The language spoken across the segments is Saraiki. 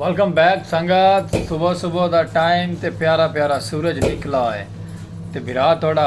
ویلکم بیک سنگت صبح صبح دا ٹائم تے پیارا پیارا سورج نکلا ہے تے بھرا تھوڑا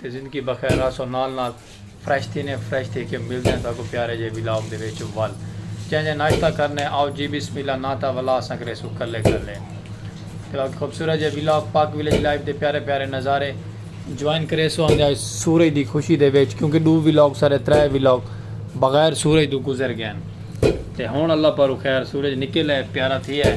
تے زندگی بخیر رہسو نال نال فریش تھینے فریش تھی کے ملدے آں تہاکوں پیارے جئے ولاگ دے وچ ول جئیں جئیں ناشتہ کرنے آؤ جی بسم اللہ نہ تاں ولا اساں کریسوں کلے کلے تے باقی خوبصورت جئے ولاگ پاک ولیج لائف دے پیارے پیارے نظارے جوائن کریسو آندے آئے سورج دی خوشی دے وچ کیونکہ ڈو ولاگ سارے ترے ولاگ بغیر سورج دو گزر گئین تے ہن اللہ پاروں خیر سورج نکل اے پیارا تھی اے۔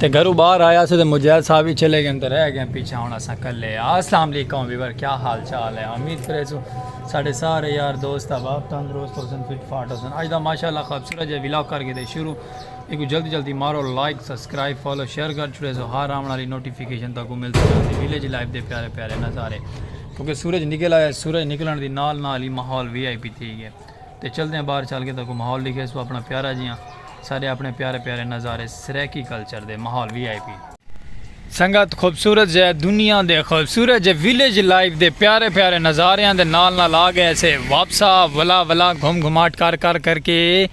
تے گھرو باہر آیا سے تے مجاہد صاحب ہی چلے گئے تے رہ گئے پیچھے ہن اساں کلے آ السلام علیکم ویور کیا حال چال ہے امید کرے سو ساڈے سارے یار دوست احباب تندرست ہو سن فٹ فاٹ ہو سن اج دا ماشاءاللہ خوبصورت جے ویلاگ کر کے دے شروع ایکو جلدی جلدی مارو لائک سبسکرائب فالو شیئر کر چھڑے سو ہر آون والی نوٹیفیکیشن تاکو مل سکے ویلیج لائف دے پیارے پیارے نظارے کیونکہ سورج نکل آیا سورج نکلن دی نال نال ہی ماحول وی آئی پی تھی گئے تے چلدیاں باہر چل کے تاکوں ماحول ڈکھے سو اپنا پیارا جیاں سارے اپنے پیارے پیارے نظارے سرائیکی کلچر دے ماحول وی آئی پی۔ سنگت خوبصورت جے دنیا دے خوبصورت جے ویلیج لائف دے پیارے پیارے نظاریاں دے نال نال آ گئے سے واپسا ولا ولا گھم گھماٹ کر کر کر کے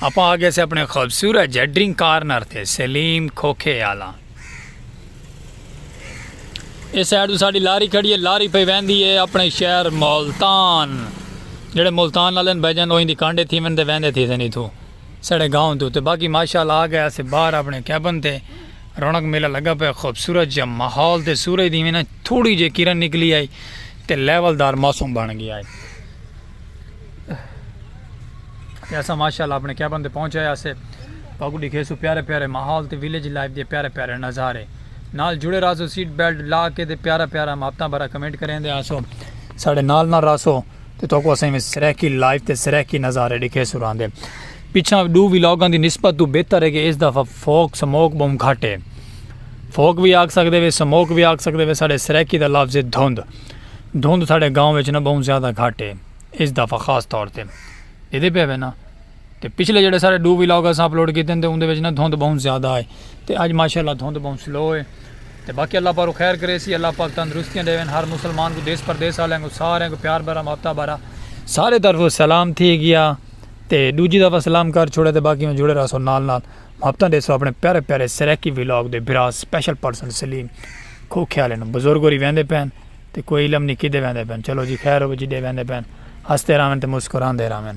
اپاں آ گئے سے اپنے خوبصورت جے ڈرنک کارنر تے سلیم کھوکھے آلا۔ اے سائیڈ تو ساڑی لاری کھڑی ہے لاری پہ ویندی ہے اپنے شہر مولتان جڑے مولتان والے بہ جان اوہی دی کانڈے تھی ویندے ویندے تھی سنی تھو سڑے گاؤں تو تے باقی ماشاءاللہ آ گئے اسے باہر اپنے کیبن تے رونق میلہ لگا پہ خوبصورت جا ماحول تے سورج دی میں نا تھوڑی جے کرن نکلی آئی تے لیول دار موسم بن گیا ہے تے اساں ماشاءاللہ اپݨے کیبن تے پہنچ آئے ہاسے تہاکوں ݙیکھیسوں پیارے پیارے ماحول تے ویلیج لائف دے پیارے پیارے نظارے نال جڑے راہسو سیٹ بیلٹ لا کے تے پیارا پیارا محبتاں بھرا کمنٹ کریندے ہاسو ساڈے نال نال راہسو تے تہاکوں اساں میں سرائیکی لائف تے سرائیکی نظارے ݙیکھیسوں راندے پیچھے ڈو ویلاگاں دی نسبت تو بہتر ہے کہ اس دفعہ فوک سموک بہوں گھٹ ہے فوک بھی آکھ سکدے وے سموک بھی آکھ سکدے وے ساڈے سرائیکی دا لفظ ہے دھند دھند ساڈے گاؤں وچ نہ بہوں زیادہ گھٹ ہے اس دفعہ خاص طور تے دیدے پے وے نا تے پچھلے جڑے سارے ڈو ولاگ اساں اپلوڈ کیتے ہیں تے اوندے وچ نہ دھند بہوں زیادہ ہے تے اج ماشاءاللہ دھند بہوں سلو ہے تے باقی اللہ پاک خیر کرے سی اللہ پاک تندرستیاں دیون ہر مسلمان کو دیس پردیس والے کو سارے کو پیار بھرا محبت بھرا سارے طرف سلام تھی گیا تے دوجی دفعہ سلام کر چھوڑے تے باقی میں جڑے رہسو نال نال محبت دیسو اپنے پیارے پیارے سریکی ولاگ دے برا سپیشل پرسن سلیم کھوکھے آلے نو بزرگ ہوری ویندے پین تے کوئی علم نی کدھے ویندے پین چلو جی خیر ہووے جڈے ویندے پین ہسدے راون تے مسکراندے راون۔